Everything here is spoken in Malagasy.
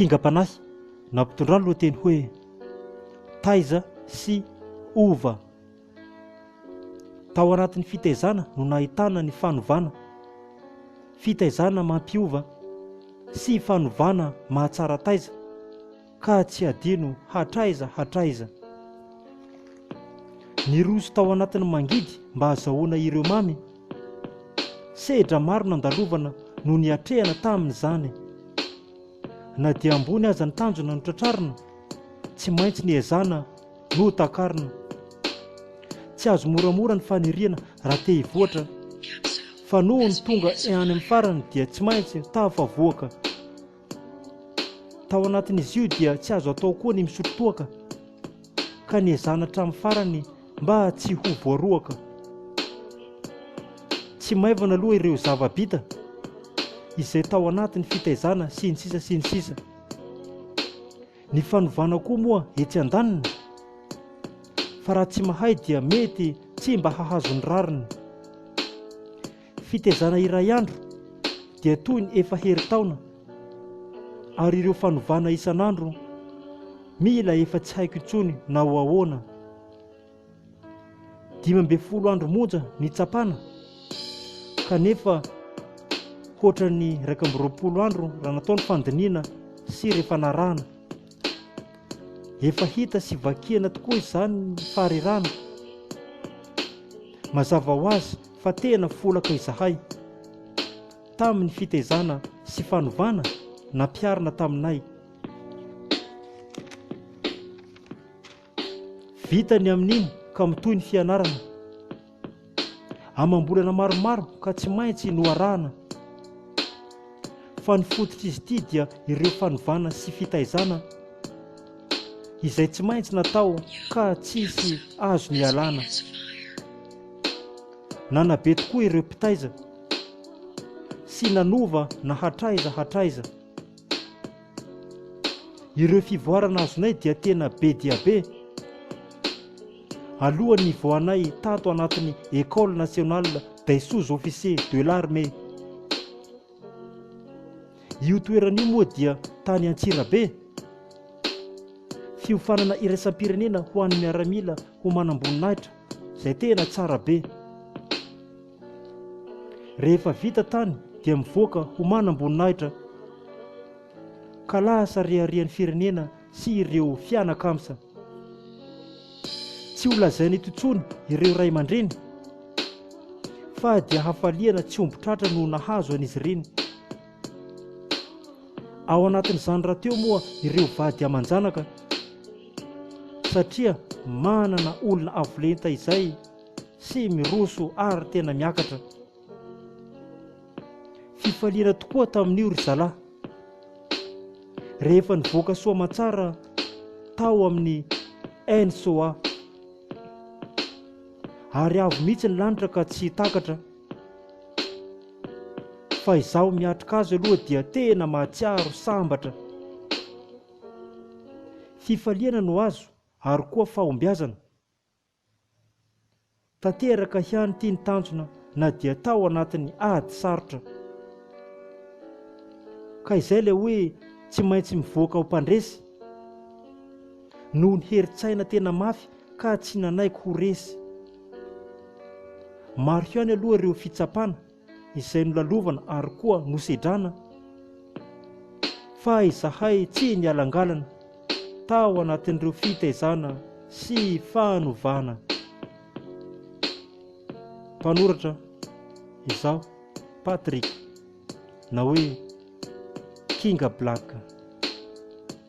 Kingam-panahy nampitondra ny lohateny hoe Taiza sy Ova. Tao anatin'ny fitaizana no nahitana ny fanovana, fitaizana mampiova sy fanovana mahatsara taiza. Ka tsy hadino hatraiza hatraiza. Niroso tao anatin'ny mangidy mba hazahoana ireo mamy. Sehedra maro nandalovana no niatrehana tamin'izany. Na dia ambony aza ny tanjona notratrarina, tsy maintsy niezana notakarina. Tsy azo moramora ny faniriana raha te hivoatra, fa noho ny tonga any amin'ny farany dia tsy maintsy tafavoaka. Tao anatin'izy io dia tsy azo atao koa ny misotro toaka, ka niezana hatramin'ny farany mba tsy ho voaroaka. Tsy maivana aloha ireo zava-bita, izay tao anatin'ny fitaizana sy ny sisa sy ny sisa. Ny fanovana koa moa etsy an-daniny, fa raha tsy mahay dia mety tsy mba hahazo ny rariny. Fitaizana iray andro dia toy ny efa herintaona, ary ireo fanovana isan'andro mila efa tsy haiko intsony na ho ahoana. Dimy ambin'ny folo andro monja nitsapana, kanefa hoatran'ny iraika amby roapolo andro raha natao ny fandinihana sy ireo fanarahana. Efa hita sy vakiana tokoa izany ny faharerahana. Mazava ho azy, fa tena folaka izahay tamin'ny fitaizana sy fanovana nampiharina taminay. Vita ny amin'iny ka mitohy ny fianarana. Amam-bolana maromaro ka tsy maintsy noarahana fa ny fototr'izy ity dia ireo fanovana sy fitaizana izay tsy maintsy natao ka tsisy azo nialana. Nanabe tokoa ireo mpitaiza sy nanova na hatraiza hatraiza. Ireo fivoarana azonay dia tena be dia be. Alohan'ny nivoahanay tato anatin'ny Ecole Nationale des Sous-Officiers de l'Armée. Io toerana io moa dia tany Antsirabe. Fiofanana iraisam-pirenena ho an'ny miaramila ho manamboninahitra. izay tena tsara be. Rehefa vita tany dia mivoaka ho manam-boninahitra ka lasa reharehan'ny firenena sy ireo fianakamsa. Tsy ho lazaina eto intsony ireo ray aman-dreny fa dia hafaliana tsy omby tratra no nahazo an'izy ireny. Ao anatin'izany rahateo moa ireo vady aman-janaka satria manana olona avo lenta izay sy miroso ary tena miakatra. Fifaliana tokoa tamin'io ry zalahy. Rehefa nivoaka soa aman-tsara tao amin'ny NSOA. Ary avo mihitsy ny lanitra ka tsy takatra. Fa izaho miatrika azy aloha dia tena mahatsiaro sambatra. Fifaliana no azo ary koa fahombiazana. Tanteraka ihany ity ny tanjona na dia tao anatin'ny ady sarotra. Ka izay ilay hoe tsy maintsy mivoaka ho mpandresy. Noho ny herin-tsaina tena mafy ka tsy nanaiky ho resy. Maro ihany aloha ireo fitsapana izay nolalovana ary koa nosedrana fa izahay tsy nialangalana tao anatin'ireo fitaizana sy fanovana. Mpanoratra izaho, Patrick, na hoe Kinga Black.